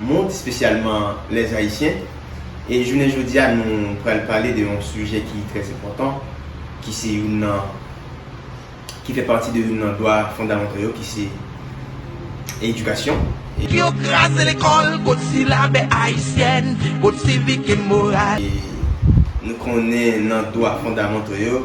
mond, spesyalman les Haïtiens. E jounen jodi a nou pral pale de yon sijè ki trè enpòtan, ki se youn nan, ki fè pati de youn nan dwa fondamantò yo ki se edikasyon. Pou yo kraze lekòl kot silabè Ayisyen, kot sivik e moral. E nou konnen nan dwa fondamantò yo,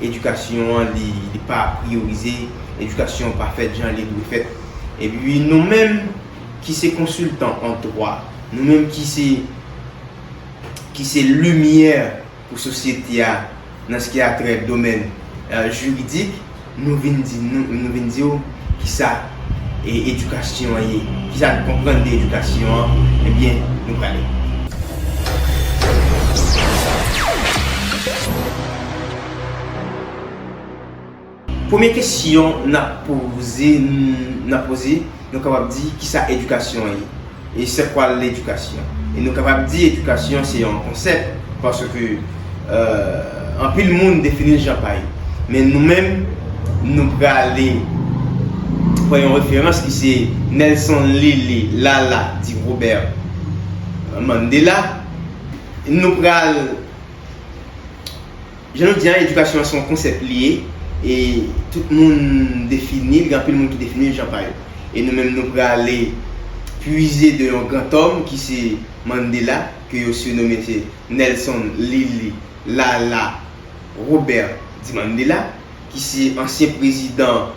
edikasyon an li pa priyorize, edikasyon an pa fèt jan li dwe fèt. Epi nou menm ki se konsiltan an dwa, nou menm ki se ki se limyè pou sosyete a nan s ki a trè domèn jiridik, nou vin di nou vin di w ki sa edikasyon an ye, kisa nou konprann de edikasyon an, ebyen nou prale. Premye kesyon n ap poze, nou kapab di kisa edikasyon an ye? E se kwa ledikasyon? E nou kapab di edikasyon se yon konsèp paske anpil moun defini l jan pa yo. Men nou menm nou prale pran yon referans ki se Nelson Lili Lala Di Robert Mandela. Nou pral. Jan nou di a, edikasyon an se yon konsèp li ye e tout moun defini l, gen anpil moun ki defini l jan pa yo. E nou menm nou prale pwize de yon grantòm ki se Mandela, ke yo sirnome se Nelson Lili Lala Robert Di Mandela, ki se ansyen prezidan.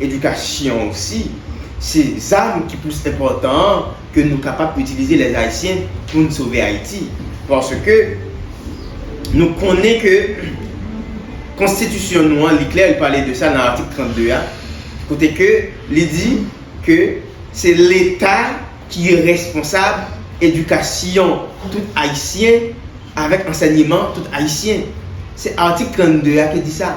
Edikasyon osi, se zam ki plis enpòtan an ke nou kapab itilize lè Ayisyen pou n sove Ayiti. Paske nou konnen ke konstitisyon nou an li klè, li pale de sa nan atik 32 a, kote ke li di ke se leta ki responsab edikasyon tout Ayisyen avèk ansènyeman tout Ayisyen. Se atik 32 a ki di sa.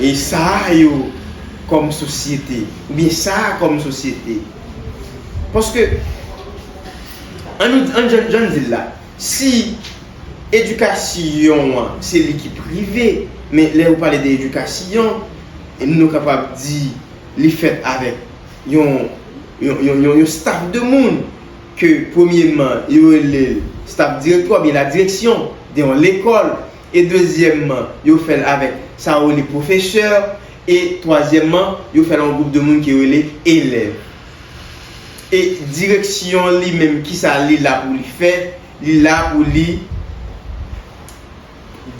E sa a yo kòm sosyete. Oubyen sa a kòm sosyete. Paske, an nou, an jan, jan n di l la, si edikasyon an se li ki prive, men lè ou pale de edikasyon, nou kapab di li fèt avèk yon, yon, yon, yon, yon staf de moun ke premyeman yo rele l staf direktwa oubyen ladireksyon de yon lekòl e dezyèmman yo fè l avèk sa yo rele pwofesè e twazyèmman yo fè l an gwoup de moun ki rele elèv e direksyon li menm kisa li la pou li fè li la pou li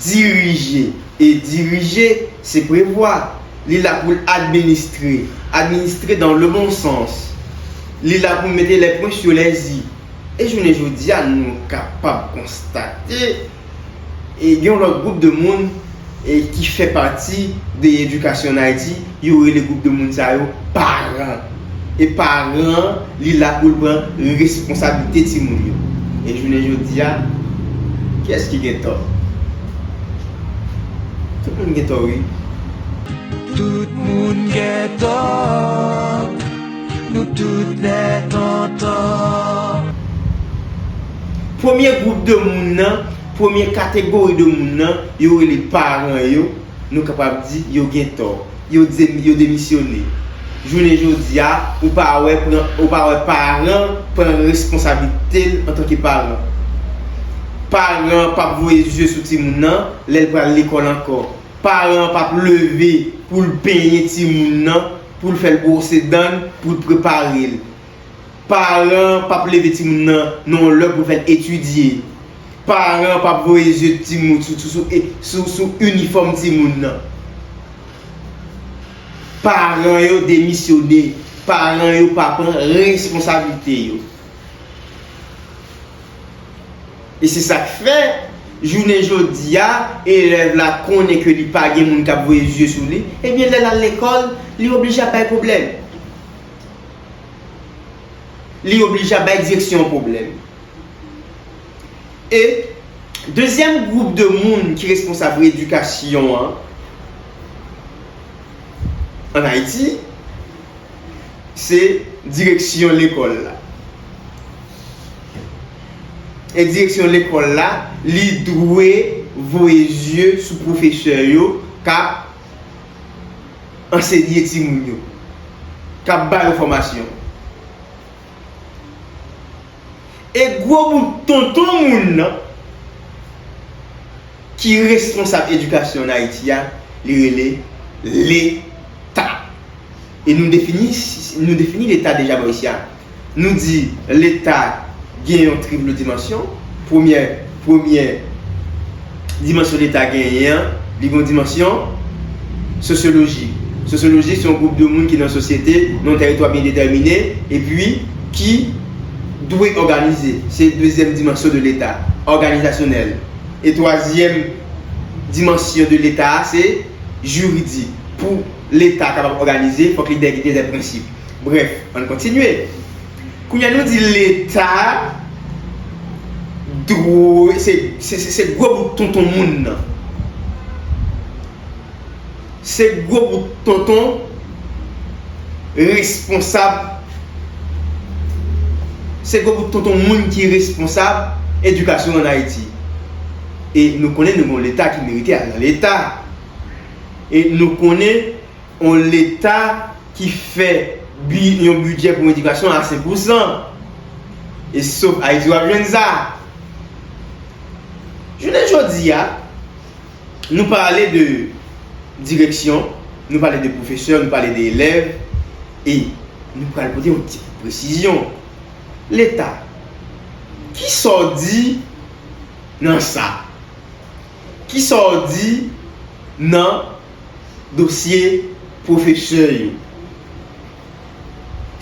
dirije e dirije se prevwa li la pou l administre administre dan le bon sans li la pou mete lè pwen sou lè i e jounen jodi a nou kapab konstate. gen yon lòt gwoup de moun ki fè pati de edikasyon an Ayiti, yo rele gwoup de moun sa yo paran. E paran an, li la pou l pran responsablite timoun yo. E jounen jodi a, kiyès ki gen tò? Tout moun gen tò wi. Tout moun gen tò. Nou tout lè tonton. Premye gwoup de moun nan, premye kategori de moun nan, yo rele paran yo, nou kapab di, yo gen tò. Yo di, yo demisyone. Jounen jodi a, ou pa wè pran, ou pa wè paran pran responsablite l antanke paran. Paran an pap voye zye sou timoun nan, lè l pral lekòl ankò. Paran an pap leve pou l benyen timoun nan. Poul fèl bwose danl poul preparel. Paran pap leve timoun nan nan yon lè poul fèl etidye. Paran pap voye zye timoun sou sou inifòm timoun nan. Paran yo demisyone. Paran yo pa pran responsablite yo. E se sa k fè, jounen jodi a, elèv la konnen ke li pa gen moun k ap voye zye sou li, ebyen lè l al lekòl, li oblije ap bay pwoblèm. Li oblije ap bay direksyon pwoblèm. E, dezyèm gwoup de moun ki responsab redikasyon an, ann Ayiti, se direksyon lekòl la. e direksyon lekòl la, li dwe voye zye sou pwofesè yo k ap ansenye timoun yo, k ap ba yo fòmasyon. E gwo bout tonton moun nan ki responsab edikasyon ann Ayiti a, li rele Leta. E nou defini Leta deja, Boris, ya. Nou di Leta gen yon tripl dimansyon. Premyè, premyè dimansyon Leta genyen an, li gen yon dimansyon sosyoloji. Sosyoloji se yon gwoup de moun ki nan sosyete, nan yon tèritwa byen detèmine, epi ki dwe òganize. Se dezyèm dimansyon de Leta, òganizasyonèl. E twazyèm dimansyon de Leta a se jiridik. Pou Leta kapab òganize, fòk li gen dè prensip. Brèf, ann kontinye. Kounye a nou di Leta dwe, se gwo bout tonton moun nan. Se gwo bout tonton responsab, se gwo bout tonton moun ki responsab edikasyon ann Ayiti. E nou konnen nou gen yon Leta ki merite al nan Leta. E nou konnen. yon leta ki fè yon bidjè pou edikasyon a 5 pousan. E se sof Ayiti w ap jwenn sa. Jounen jodi a, nou pale de direksyon, nou pale de pwofesè, nou pale de elèv, e nou pral pote yon ti presizyon. Leta, ki sa w di nan sa? Ki sa w di nan. dosye pwofesè yo.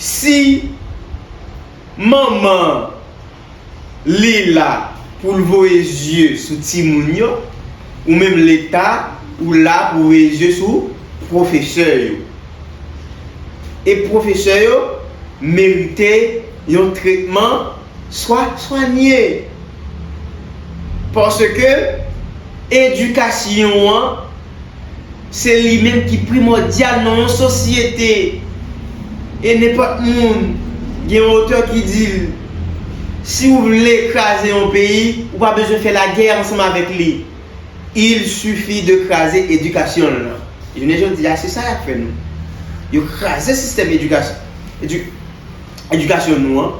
Si manman an li la pou l voye zye sou timoun yo, ou menm Leta ou la pou w voye zye sou pwofesè yo. E pwofesè yo merite yon tretman swa swanye. Paske edikasyon an. Se li menm ki primòdyal nan yon sosyete. E nenpòt moun, gen yon otè ki di l, si ou vle kraze yon peyi, ou pa bezwen fè lagè ansanm avèk li. Il suffit de kraze edikasyon l lan. Jounen jodi a, se sa y ap fè nou. Yo kraze sistèm edikasyon nou an.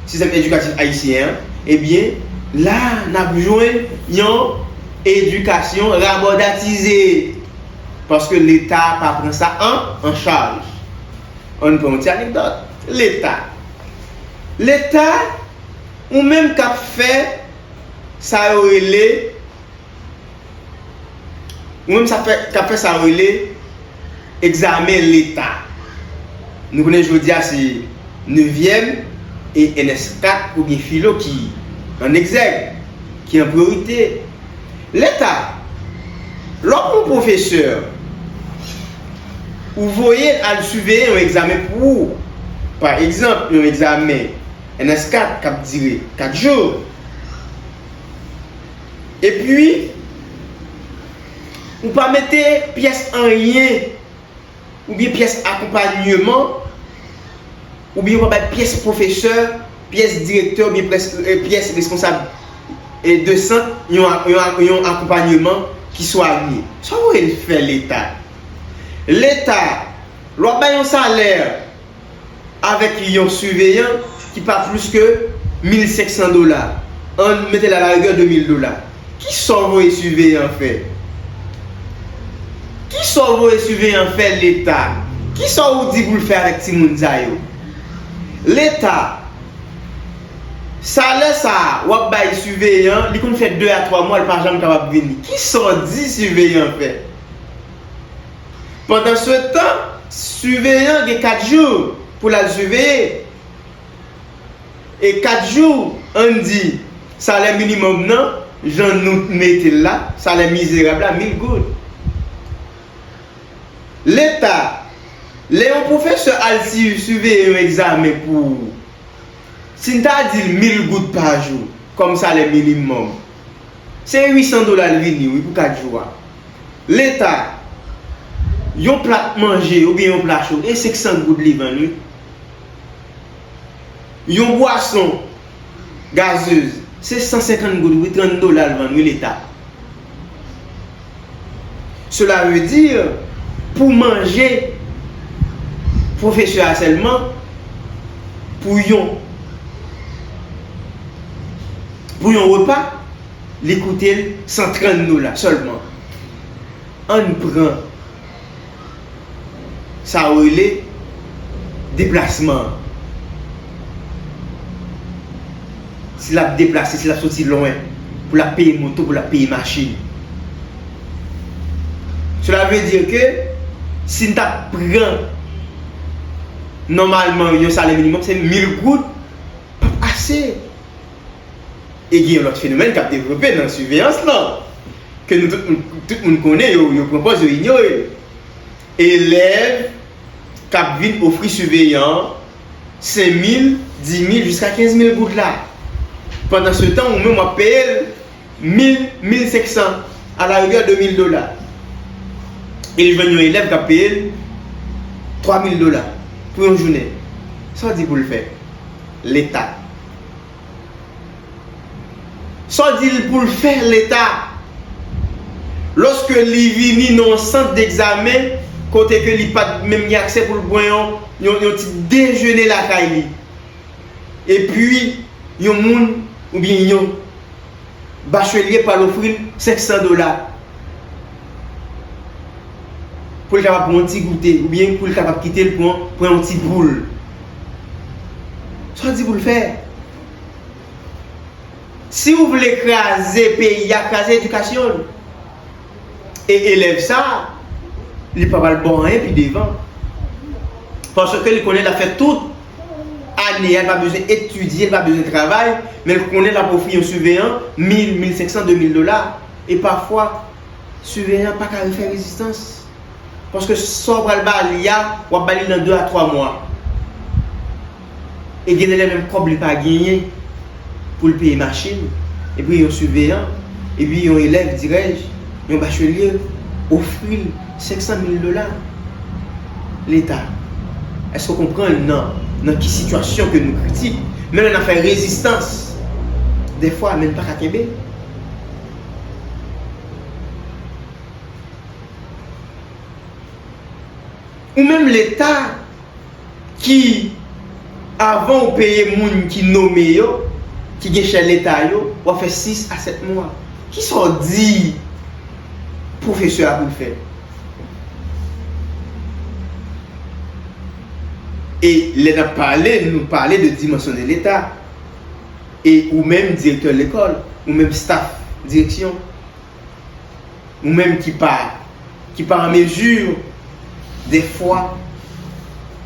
sistèm edikatif ayisyen an, ebyen la n ap jwenn yon edikasyon rabòdatize paske Leta pa pran sa an chaj. An n pran yon ti anekdòt, Leta, Leta ou menm k ap fè sa yo rele. Ou menm sa fè, kap fè sa yo rele egzamen leta. Nou konnen jodi a se nevyèm e ns 4 oubyen filo ki an egzèg, ki an priyorite. Leta, lè w pran pwofesè, ou voye l al siveye yon egzamen pou ou, pa egzanp yon egzamen ns 4 kap dire 4 jou. Epi ou pa mete pyès anyen oubyen pyès akonpanyeman oubyen ou pa bay pyès pwofesè, pyès direktè oubyen pyès responsab de sant yon akonpanyeman ki swanye. Sa w vle fè Leta? Leta, lè w ap bay yon salè, avèk yon siveyan ki pa plis ke 1500 dola, an mete l a la rigè 2000 dola. Kisa w voye siveyan an fè? Kisa w voye siveyan an fè leta? Kisa ou di pou l fè avèk timoun sa yo? Leta, salè sa a w ap bay siveyan an, li konn fè 2 a 3 mwa l pa janm kapab vini. Kisa w di siveyan an fè? Pandansetan, siveyan gen kat jou pou l al siveye. E kat jou, ann di, salè minimòm nan, jan nou mete l la, salè mizerab la, mil goud. Leta, lè yon pwofesè al siveye yon egzamen pou ou, si n ta di l mil goud pa jou kòm salè minimòm, Se 800 dola l vini wi pou 4 jou a. Leta, yon plat manje oubyen yon pla cho e 500 goud li vann wi. Yon bwason gazeuz se 150 goud wi, 30 dola l vann wi leta. Cela veut dire pou manje pwofesè a sèlman pou yon pou yon repa li koute l 130 dola sèlman. Ann pran. sa ou rele deplasman an. Si l ap deplase, si l ap soti lwen pou l ap peye moto, pou l ap peye machin. Sela vle di ke si n ta pran nòmalman yon salè minimòm se mil goud p ap ase. E gen yon lòt fenomèn k ap devlope nan siveyans lan, ke nou tout, tout moun konnen, yo pran pòz yo inyore l. Elèv k ap vin ofri siveyan an senmil, dimil, jiska kenzmil goud la. Pandansetan ou menm w ap peye l mil, mil senksan, alarigè demil dola. E li jwenn yon elèv k ap peye l twamil dola pou yon jounen. Sa w di pou l fè? Leta. Sa w di l pou l fè, Leta? Lòske li vini nan yon sant degzamen kote ke li pa t menm gen aksè pou l pran yon ti dejene lakay li, epi yon moun oubyen yon bachelye pral ofri l 500 dola pou l kapab pran yon ti goute oubyen pou l kapab kite l pran yon ti boule Sa di pou l fè? Si ou vle kraze peyi a, kraze edikasyon l. E elèv sa, li pa pral bon anyen pi devan. Paske li konnen l ap fè tout ane a, l pa bezwen etidye, l pa bezwen travay, men l konnen l ap ofri yon siveyan mil, mil senksan, demil dola. E pafwa, siveyan an pa ka fè rezistans. Paske sa w pral ba li a, w ap ba li nan 2 a 3 mwa. E gen lè menm kòb li pa genyen pou l peye machin, epi yon siveyan, epi yon elèv, dirèj, yon bachelye ofri l 500 mil dola. Leta, èske w konprann nan ki sitiyasyon ke nou kritik? Menm lè n ap fè rezistans, dèfwa men n pa ka kenbe. Ou menm leta ki avan ou peye moun ki nome yo, ki gen chè leta yo, wap fè 6 a 7 mwa. Kisa w di pwofesè a pou l fè? E lè nap pale, nou pale de dimansyone leta. E ou menm direktè lekòl, ou menm staff direksyon. Ou menm ki pa ki pa an mezi defwa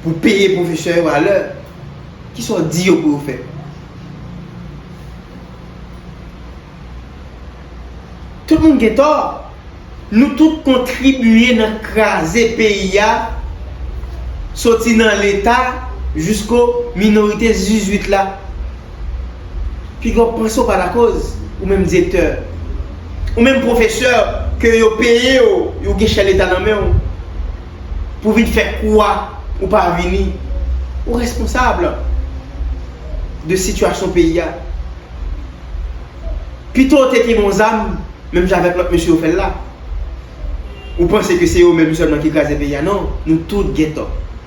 pou peye pwofesè yo a lè, ki sa w di yo pou yo fè? Tout moun gen tò. Nou tout kontribiye nan kraze peyi a soti nan leta jisko minorite 18 la. Pi gran pwen se w pa lakoz, ou menm direktè, ou menm pwofesè ke yo peye w, ou gen chè leta nan men w, pou vin fè kou a, ou pa vini. Ou responsab de sitiyasyon peyi a. Pito w te gen yon zam, menm jan avèk lòt mesye yo fè l la. Ou panse ke se yo menm sèlman ki kraze peyi a? Non, nou tout gen tò.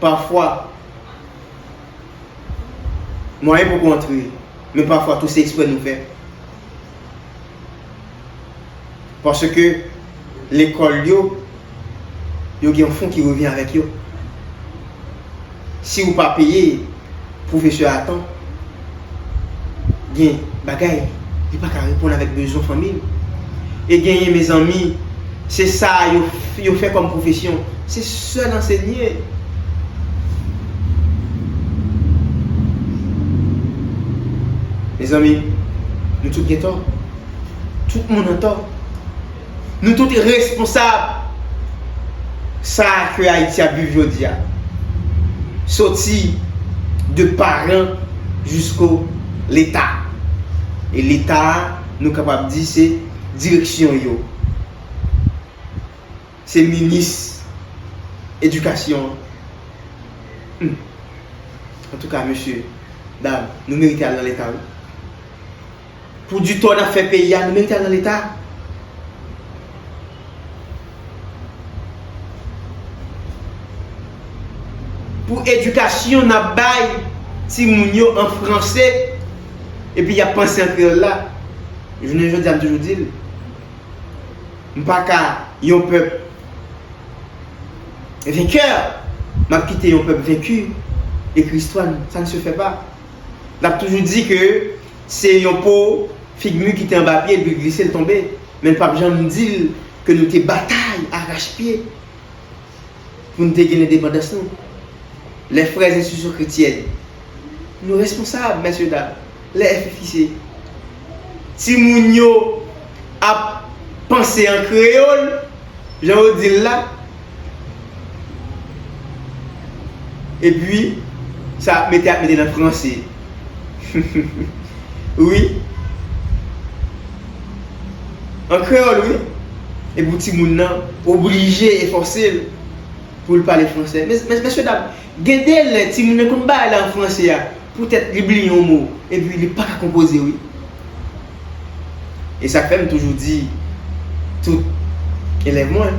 Pafwa, mwayen pou kontre, men pafwa tou se eksprè nou fè. Paske lekòl yo, yo gen yon fon ki revyen avèk yo. Si ou pa peye. Pwofesè a tan gen bagay li pa ka reponn avèk bezwen fanmi l. E genyen mezanmi se sa yo fè kòm pwofesyon se sèl ansenye. Mezanmi nou tout gen tò. Tout moun an tò. Nou tout responsab sa ke Ayiti ap viv jodi a. Soti de paran jisko leta. E leta a nou kapab di se direksyon yo. Se minis edikasyon an. Hum! Antouka mesye, dam, nou merite al nan leta wi. Pou di tò nap fè peyi a nou merite al nan leta. Pou edikasyon nap bay ti moun yo an franse epi yap panse an kreyòl la. Jounen jodi a m toujou di l m pa ka yon pèp venkè map kite yon pèp venki ekri istwa n sa ne se fè pa. Nap toujou di ke. Se yon po fig mu ki te anba pye l li glise l tonbe men l pap janm di l ke nou te batay arach pye pou n te gen lendepandans nou. Lè frè enstitisyon kretyèn nou responsab mèsye dam lè FFIC ti moun yo ap panse an kreyol jan yo dil la epi sa yap mete yap mete nan franse wi an kreyol wi e pou timoun nan oblije e fòsel poul pale franse mesye dam gen de lè timoun nan konn bagay la an franse a pou tèt li bliye yon mo epi li paka konpoze wi. E sa k fè m toujou di tout elèv mwen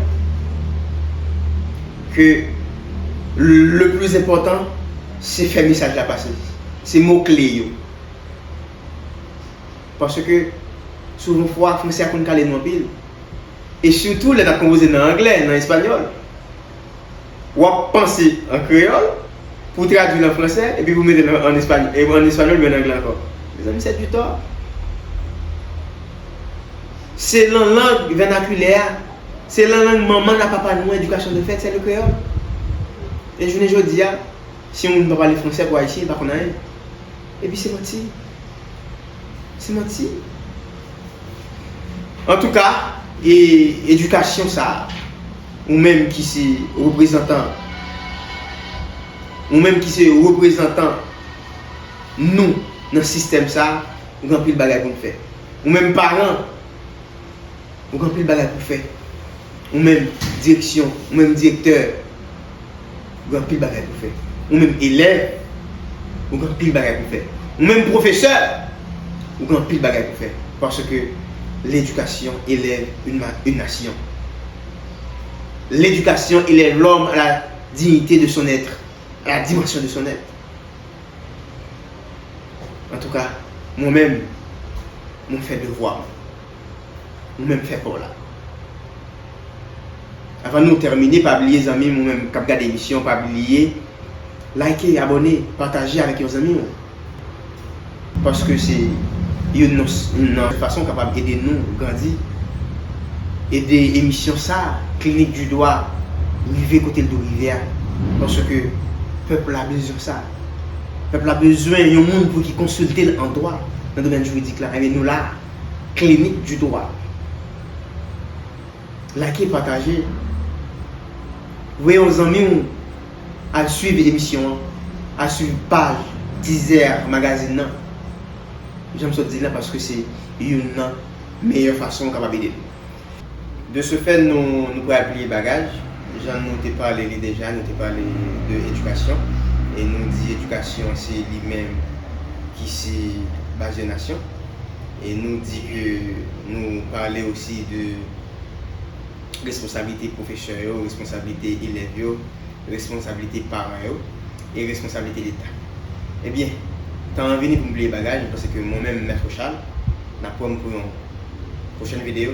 ke le plis enpòtan se fè mesaj la pase, se mo kle yo. Paske souvan fwa franse a konn kale nou anpil e sitou lè n ap konpoze nan angle, nan espanyòl. w ap panse an kreyòl pou w tradui l an fransè epi pou w mete l an espanyòl oubyen an angle ankò. Mezanmi sè ditò! Se lan lang vènakilè a, se lan lang manman n ak papa nou an edikasyon te fèt, sè le kreyòl. E jounen jodi a, si yon moun pa pale fransè pou Ayisyen, li pa konn anyen. Epi se manti. Se manti. Antouka, edikasyon sa a. Ou menm ki se reprezantan Ou menm ki se reprezantan Nou nan sistèm sa a Ou gen anpil bagay pou n fè Ou menm paran Ou gen anpil bagay pou w fè Ou menm direksyon Ou menm direktè Ou gen anpil bagay pou w fè Ou menm elèv Ou gen anpil bagay pou w fè Ou menm pwofesè Ou gen anpil bagay pou w fè Paske ledikasyon elève yn nasyon. L'éducation élève l'homme à la dignité de son être, à la dimension de son être. An tou ka, mwen menm, mwen fè devwa mwen. Ou menm fè pa w la. Avan nou tèmine, pa bliye zanmi mwen menm kap gade emisyon, pa bliye like, abone, pataje avèk yon zanmi w. Paske se youn nan fason kapab ede nou grandi. Ede emisyon sa, Clinique du Doigt, rive kote l dwe rive a. Paske pèp la bezwen sa. Pèp la bezwen yon moun pou ki konsilte l an dwa, nan domèn jiridik la. Enben nou la a. Clinique du Doigt. Like pataje Voye yon zanmi w al swiv emisyon an Al swiv paj Deezer magazin nan Jan m sot di l la paske se youn nan meyè fason ou kapab ede m De se fè nou pral pliye bagaj Jan nou te pale li deja nou te pale de edikasyon E nou di edikasyon se li menm ki se baz yon nasyon. E nou di ke nou pale osi de responsablite pwofesè yo, responsablite elèv yo, responsablite paran yo, e responsablite Leta. Ebyen, tan an vini pou m bliye bagay, m panse ke mwen menm Mèt Rochal, n ap wè m pou yon pwochèn videyo.